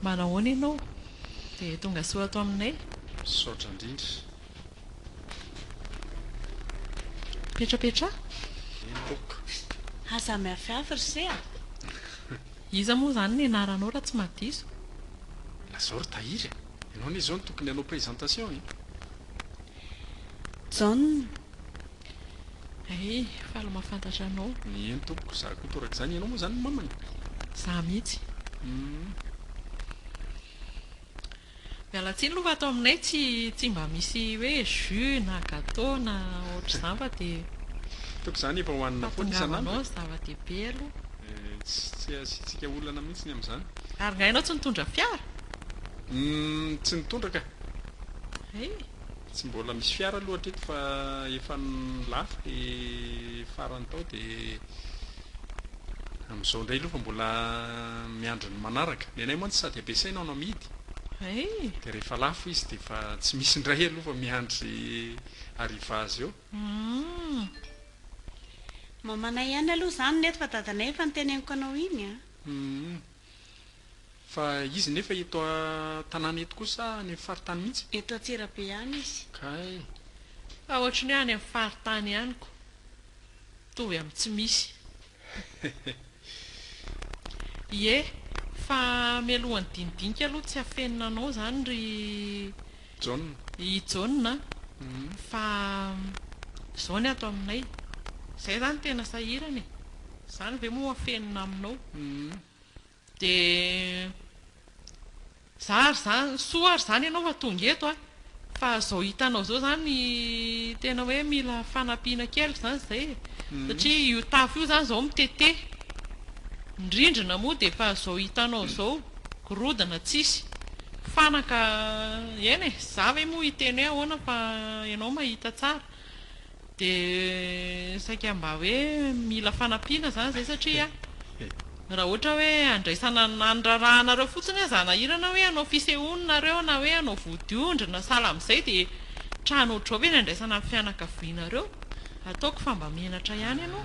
Mba nahoana ianao dia tonga soa ato aminay? Misaotra indrindra. Petrapetraha. Eny tompoko. Ha samy hafi hafi ry se a! Iza moa izany ny anaranao raha tsy maha diso? Lazao ry Tahiry e! Ianao anie izao no tokony hanao présentation e! Jaona. Ay, faly mahafantatra anao. Eny tompoko, za koa toa rak'izany. Ianao moa zany no mamany? Za mihitsy. Hum. Miala tsiny aloha fa ato aminay tsy tsy mba misy hoe jus na gateau na ohatr'izany fa dia Toa k'izany efa hohanina foana isan'andro e. Fahatongavanao zava-dehibe aloha. Tsy tsy asiantsika olana mihitsy ny amin'izany. Ary nga ianao tsy nitondra fiara? Hum, tsy nitondra ka. Ay. Tsy mbola misy fiara aloha hatreto fa efa lafo le farany tao de amizao ndray aloha fa mbola miandry ny manaraka. Ny anay mantsy sady ampiasaina no amidy de rehefa lafo izy de efa tsy misy ndray aloha fa miandry arrivage eo. Mamanay ihany aloha izany nefa dadanay efa noteneniko anao iny a. Fa izy nefa eto an-tanàna eto koa sa any amin'ny faritany mihitsy? Eto Antsirabe ihany izy. Kay. Fa ohatry ny hoe any amin'ny faritany ihany ko. Mitovy amin'ny tsy misy. Ie, fa mialohan'ny dinidinika aloha tsy afenina anao izany ry Jaona a. I Jaona a. Fa izao ny ato aminay. Izay izany tena sahirana e. Izany ve moa ho afenina aminao. Dia za ary zany, soa ary zany ianao fa tonga eto a! Fa izao hitanao izao izany tena hoe mila fanampiana kely izany izay e! Satria io tafo io izany izao mitete, ny rindrina moa dia efa izao hitanao izao, gorodona tsisy, fanaka, eny e! Za ve moa hiteny hoe ahoana fa ianao mahita tsara. Dia saika mba hoe mila fanampiana izany izay satria raha ohatra hoe andraisana andrarahanareo fotsiny aza hanahirana hoe hanao fisehoana nareo na hoe hanao vodiondry na sahala amin'izay dia trano ohatr'izao ve ny andraisana ny fianakavianareo? Ataoko fa mba menatra ihany ianao.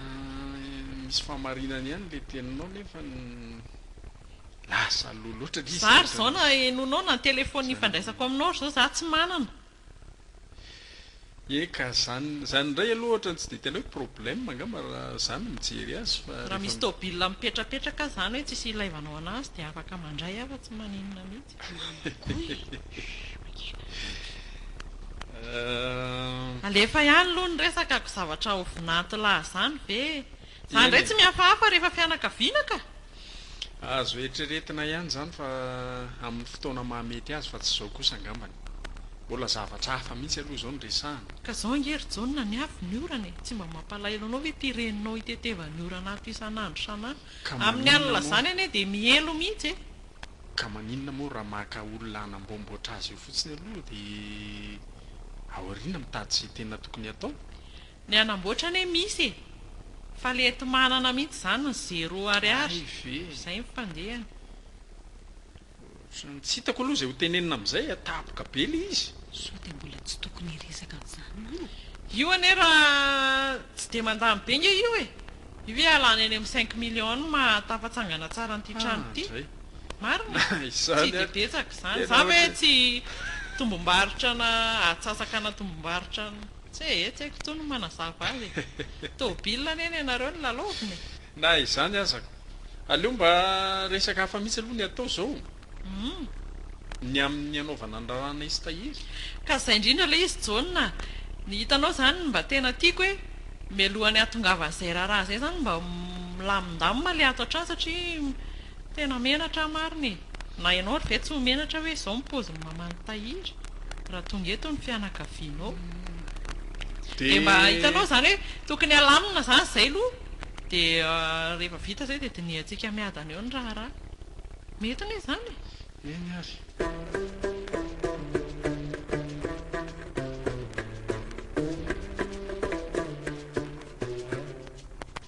Misy fahamarinany ihany ilay teninao nefa lasa aloha loatra ilay izy. Za ry zao na henoinao na ny telephone hifandraisako aminao ry zao za tsy manana. Eka zany zany indray aloha ohatra tsy dia tena hoe problème angamba raha za no mijery azy fa rehefa. Raha misy tôbila mipetrapetraka zany hoe tsisy ilaivanao anazy dia afaka mandray aho fa tsy maninona mihitsy. Alefa ihany aloha ny resaka ko zavatra ho vinanto laha zany ve Za ndray tsy mihafahafa rehefa fianakaviana ka! Azo eritreretina ihany izany fa amin'ny fotoana maha mety azy fa tsy izao kosa angambany. Mbola zavatra hafa mihitsy aloha izao no resahana. Ka zao ange ry Jaona ny avy ny orana e! Tsy mba mampalahelo anao ve ity reninao itetevan'ny orana ato isan'andro isan'andro? Amin'ny alina izany anie dia mielo mihitsy e! Ka maninona moa raha maka olona hanamboamboatra azy eo fotsiny aloha dia aoriana mitady izay tena tokony hatao? Ny hanamboatra anie misy e! Fa le eto manana mihitsy izany ny zero ariary. Izay ny fandehany. Tsy hitako aloha izay ho tenenina amin'izay a! Tapoka be le izy. Sao dia mbola tsy tokony hiresaka an'izany moa? Io anie raha tsy dia mandany be nge io e! Io ve halany any amin'ny cinq millions no maha tafatsangana tsara an'ity trano ity? Marina e! Tsy dia betsaka izany. Izany ve tsy tombom-barotra na atsasakana tombom-barotra? Tse e, tsy haiko intsony ny manazava azy e. Tôbily anie ny anareo no lalaovina e. Na izany aza ko. Aleo mba resaka hafa mihitsy aloha ny atao zao. Humm. Ny amin'ny anaovana ny raharahanay sy tahiry. Ka zay indrindra ilay izy Jaona a. Ny hitanao izany no mba tena tiako hoe mialoha ny hahatongavan'izay raharaha izay izany mba milamindamina ilay ato hatrany satria tena menatra aho marina e. Na ianao ary ve tsy ho menatra hoe izao ny paozin'i maman'i Tahiry raha tonga eto ny fianakavianao? Dia mba hitanao izany hoe tokony halamina izany izay aloha dia rehefa vita izay dia dinihantsika miadana eo ny raharaha. Mety anie izany e! Eny ary.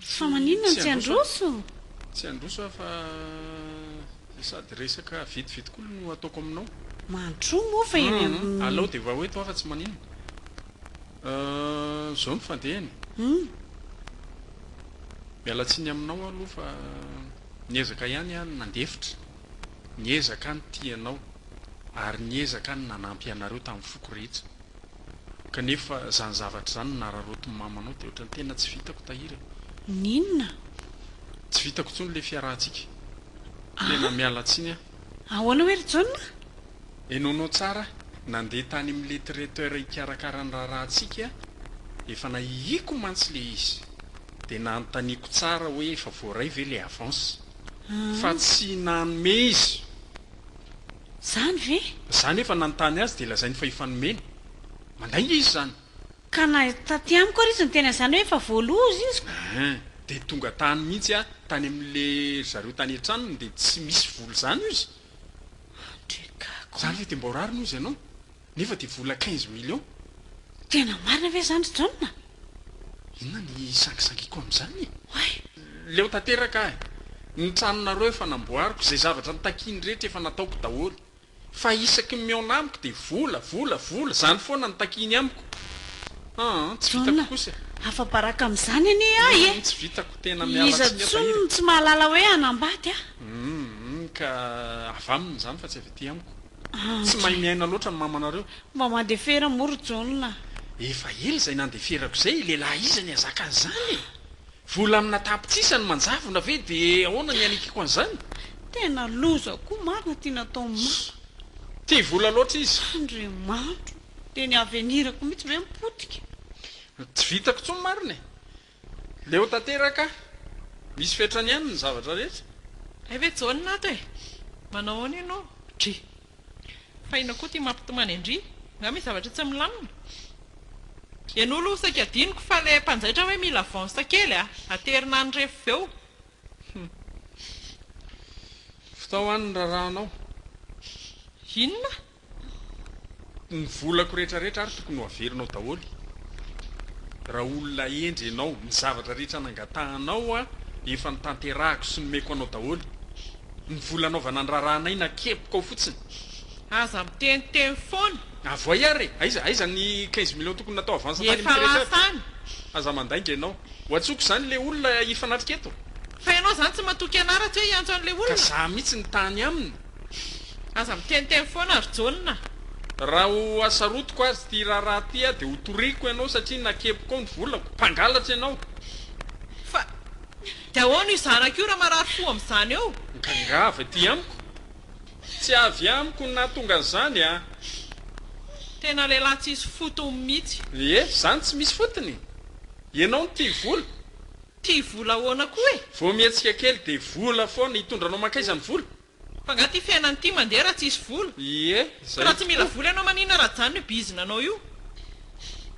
Fa maninona no tsy handroso? Tsy handroso aho fa sady resaka vetivety koa no ataoko aminao. Mandrosoa moa fa eny amin'ny. Alao dia vao eto aho fa tsy maninona. Ahh, izao no fandehany. Humm. Miala tsiny aminao aho aloha fa niezaka ihany aho ny nandefitra, niezaka aho ny tia anao ary niezaka aho ny nanampy anareo tamin'ny foko rehetra. Kanefa zany zavatra zany no nararaotin'i mama anao dia ohatran'ny tena tsy vitako Tahiry a! N'inona? Tsy vitako intsony ilay fiarahantsika. Tena miala tsiny aho. Ahoana hoe ry John a? Henoinao tsara, nandeha tany amin'ilay traiteur hikarakara ny raharahantsika, efa nahihiako mantsy ilay izy. Dia nanontaniako tsara hoe efa voaray ve ilay avance. Fa tsy nanome izy. Izany ve? Izaho anefa nanontany azy dia lazainy fa efa nomeny. Mandainga izy izany. Ka na taty amiko ary izy niteny an'izany hoe efa voaloza izy ko. Ehe, dia tonga tany mihitsy aho tany amin'le ry zareo tany an-tranony dia tsy misy vola izany hozy. Andrekako. Izany ve dia mba ho rariny hozy ianao? Nefa dia vola quinze millions. Tena marina ve izany ry John a? Inona ny hisangisangiako amin'izany e? Oay! Leo tanteraka aho e! Ny tranonareo efa namboariko, izay zavatra nitakiany rehetra efa nataoko daholo. Fa isaky ny mihaona amiko dia vola, vola, vola, izany foana no takiany amiko. Aa, tsy vitako kosa e! John, afa-baraka amin'izany anie aho e! Humm, tsy vitako, tena miala Iza tsiny aho tahiry intsony e! no tsy mahalala hoe hanambady a? Humm, ka avy aminy izany fa tsy avy aty amiko. Tsy mahay miaina loatra ny mamanareo. Mba mandefera moa ry Jaona a! Efa ela izay nandeferako izay, lehilahy iza ny hazaka an'izany e! Vola amina tapitrisa no manjavona ve dia ahoana ny hanikiko an'izany? Tena loza koa marina ity nataon'i mama. Tia vola loatra izy. Andriamanitro! Dia ny avenirako mihitsy ve mipotika? Tsy vitako intsony marina e! Leo tanteraka, misy fetrany ihany ny zavatra rehetra. Hay ve Jaona ato e! Manao ahoana ianao? Dry! Fa inona koa ity mampitomany an-dry? Nga misy zavatra tsy milamina? Ianao aloha saika adinoko fa ilay mpanjaitra hoe mila avance kely a! Aterina any rehefa avy eo. Hum. Fitao any ny rarahanao. Inona? Ny volako rehetra rehetra ary tokony ho averinao daholo raha olona hendry ianao, ny zavatra rehetra nangatahanao aho efa notanterahako sy nomeko anao daholo, ny vola anaovana ny raharahanay nakepokao fotsiny. Aza miteniteny foana. Avoay ary e! Aiza, aiza ny quinze millions tokony natao avance tany amin'ity rehetra aby? Efa lasa any. Aza mandainga ianao. Ho antsoko izany ilay olona hifanatrika eto. Fa ianao izany tsy matoky anà raha tsy hoe hiantso an'ilay olona? Ka za mihitsy no tany aminy. Aza miteniteny foana ry Jaona a! Raha ho hasarotiko azy ity raharaha ity aho dia ho toriako ianao satria nakepiko ao ny volako. Mpangalatra ianao! Fa dia ahoana io zanaka io raha marary fo amin'izany eo? Migaingava ety amiko! Tsy avy amiko no nahatonga an'izany an! Tena lehilahy tsisy fotony mihitsy! Ee, izany tsy misy fotony? Ianao no tia vola? Tia vola ahoana koa e! Vao mihetsika kely dia vola foana, hitondra anao mankaiza ny vola? Fa nga ty fiainana ty mandeha raha tsisy vola? Ie, Ka zay raha tsy mila tokoa. vola ianao maninona raha ajanony io bizina anao io?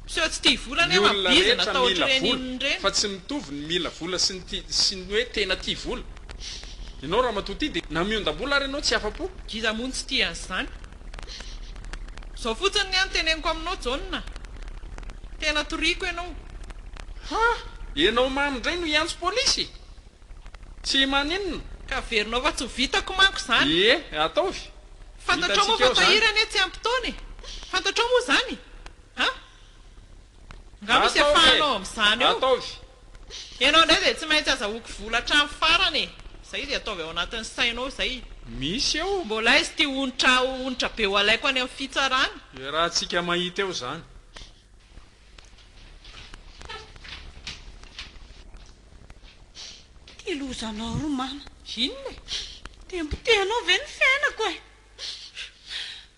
Mpiseho tsy tia vola Ny anie manao olona bizina rehetra atao mila ohatr'ireny vola, inona ireny. fa tsy mitovy ny mila vola sy ny tia sy ny hoe tena tia vola. Ianao ramatoa ty dia na miondam-bola ary ianao tsy afa-po. Ngiza moa no tsy tia an'izany. Izao fotsiny ny ahy no teneniko aminao Jaona, tena toriako ianao. Ha! Ianao mamy indray no hiantso polisy? Tsy maninona. Ka averinao fa tsy ho vitako manko izany. Ie, ataovy. Fantatrao moa fa tahiry anie tsy ampy taona e! Fantatrao moa izany? Ha! Nga misy afahanao amizany eo? Enao ndray zay tsy maintsy azahoako vola hatrany farany e! Zay zay ataovy ao anatiny sainao zay! Misy eo! Mbola aiza ity onitra onitra be ho alaiko any am fitsarana? Iarahantsika mahita eo zany! Ty lozanao ry mama! Inona e? Dia mpotehanao ve ny fiainako e!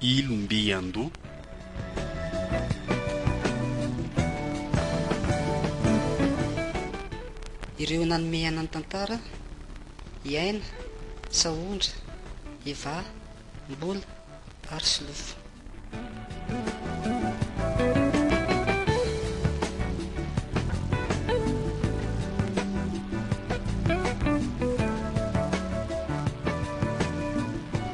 ilo mby an-doha. Ireo nanome aina ny tantara, i Aina, Sahondra, Eva, Mbola ary Solofo.